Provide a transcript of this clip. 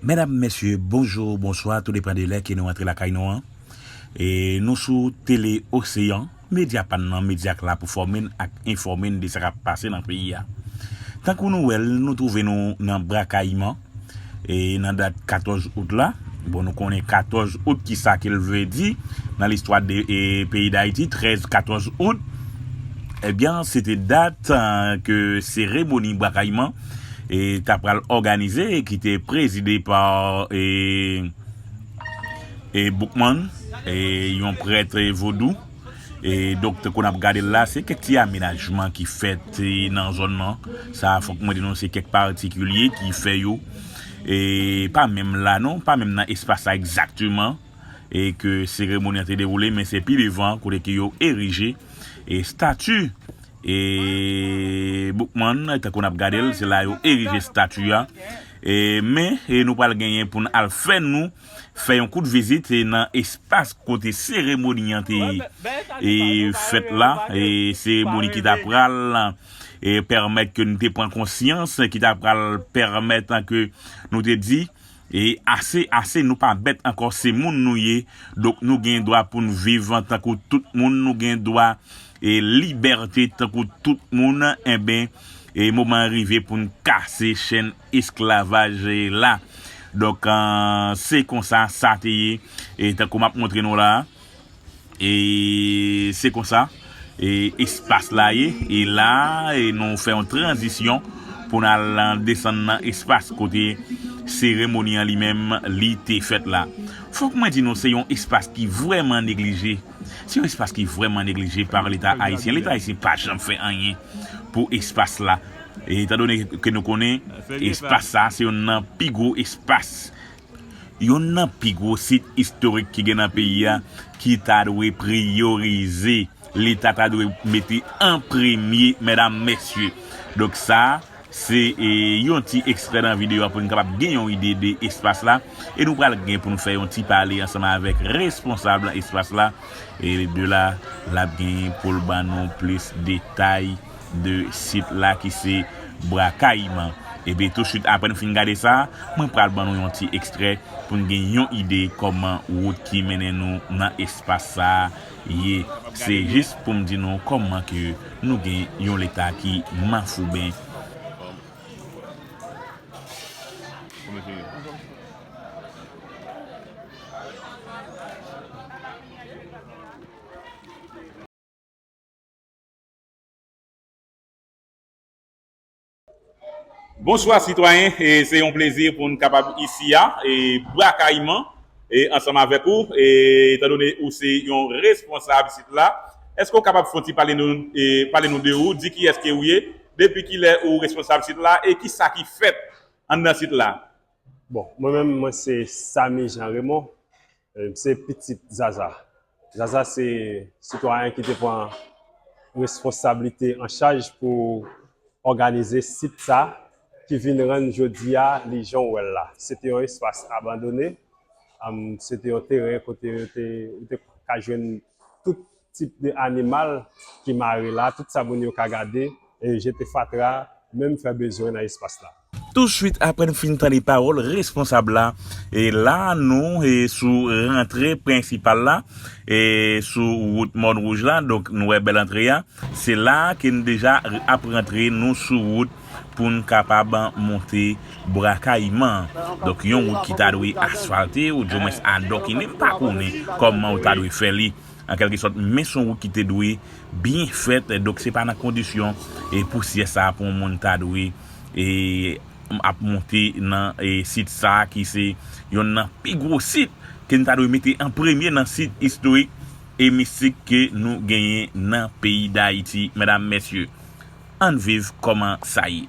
Medam mesye bonjour bonswa tou depan de lè ke nou antre lakay nou an e nou sou tele oseyan medya pa n nan medya k la pou fòme n ak enfòme n de sa kap pase nan peyi a tankou nou wèl nou twouve nou nan brakayiman e nan dat 14 out la bon nou konnen 14 out kisa ke l vle di nan listwa de peyi dayiti 13 14 out ebyen se te dat ke seremoni brakayiman. ta pral òganize ki te prezide pa Boukman, yon prèt vodou. Donk tankou n ap gade l la, se kèk ti amenajman ki fèt nan zòn nan. Sa a fòk mwen di nou se kèk patikilye ki fè yo. Pa menm la non, pa menm nan espas la egzakteman ke seremoni an te dewoule men se pi devan kote ke yo erije estati E Boukman, tankou n ap gade l, se la yo erije stati a. E men, nou pral genyen pou n al fè nou fè yon kout vizit nan espas kote seremoni an te fèt la. E seremoni ki ta pral pèmèt ke nou te pran konsyans, ki ta pral pèmèt ke nou te di. E ase ase nou pa bèt ankò se moun nou ye donk nou gen dwa poun viv tankou tout moun nou gen dwa e libète tankou tout moun enben e moman an rive poun kase chèn esklavaj la donk se konsa sa te ye e tankou map montre nou la. E se konsa espas la ye. E la nou fè yon tranzisyon pou n al desann nan espas kote seremoni an li menm li te fèt la. Fòk mwen di nou se yon espas ki vrèman neglije. Se yon espas ki vrèman neglije pa leta ayisyen. Leta ayisyen pa janm fè anyen pou espas la. Etandone ke nou konnen espas sa se yonn nan pi gwo espas. Youn nan pi gwo sit istorik ki gen nan peyi a ki ta dwe priyorize, leta ta dwe mete an premye medam mesye. Donk sa se yon ti ekstrè nan videyo a pou n kapab gen yon ide de espas la e nou pral gen pou n fè yon ti pale ansanm avèk responsab espas la e de la l ap gen pou l ban nou plis detay. de sit la ki se Bra Kayiman. Epi tousuit apre n fin gade sa, mwen pral ban nou yon ti ekstrè pou n gen yon ide kòman wout ki mennen nou nan espas sa ye. Se jis pou m di nou kòman ke nou gen yon leta ki mafouben. Bonswa sitwayen, se yon plezi pou n kapab isi a, Bwa Kayiman, ansanm avèk ou. Etan done ou se yon responsab isit la, èske ou kapab fon ti pale nou de ou, di kiyès ke ou ye, depi kilè ou responsab isit la e ki sa ki fèt anndan isit la? Bon, mwen menm mwen se Samy Jean Raymond, M se pitit Zaza. Zaza se sitwayen ki te pran responsablite an chaj pou òganize sit sa ki vin rann jodi a li jan w wè l la. Se te yon espas abandone, se te yon teren kote yo te ka jwenn tout. tip de animal ki mare la, tout sa moun yo ka gade, e jete fatra, menm fè bezwen nan espas la. Touswit apre n fin tande pawòl responsab la, e la nou e sou rantre prensipal la, e sou wout Mòn Wouj la, donk nou wè bèl antre a, se la ke n deja ap rantre, nou sou wout pou n kapab monte Bwa Kayiman an, donk yon wout ki ta dwe asfalte, ou di mwens adòkine, m pa konnen kòman ou ta dwe fè li. An kèlke sòt, men s on wout ki te dwe byen fèt, donk se pa nan kondisyon pousyè sa a pou yon moun ta dwe ap monte nan sit sa a ki se yonn nan pi gwo sit ke n ta dwe mete an premye nan sit istorik e mistik ke nou genyen nan peyi Dayiti. Medam, Mesye, an n viv kòman sa ye.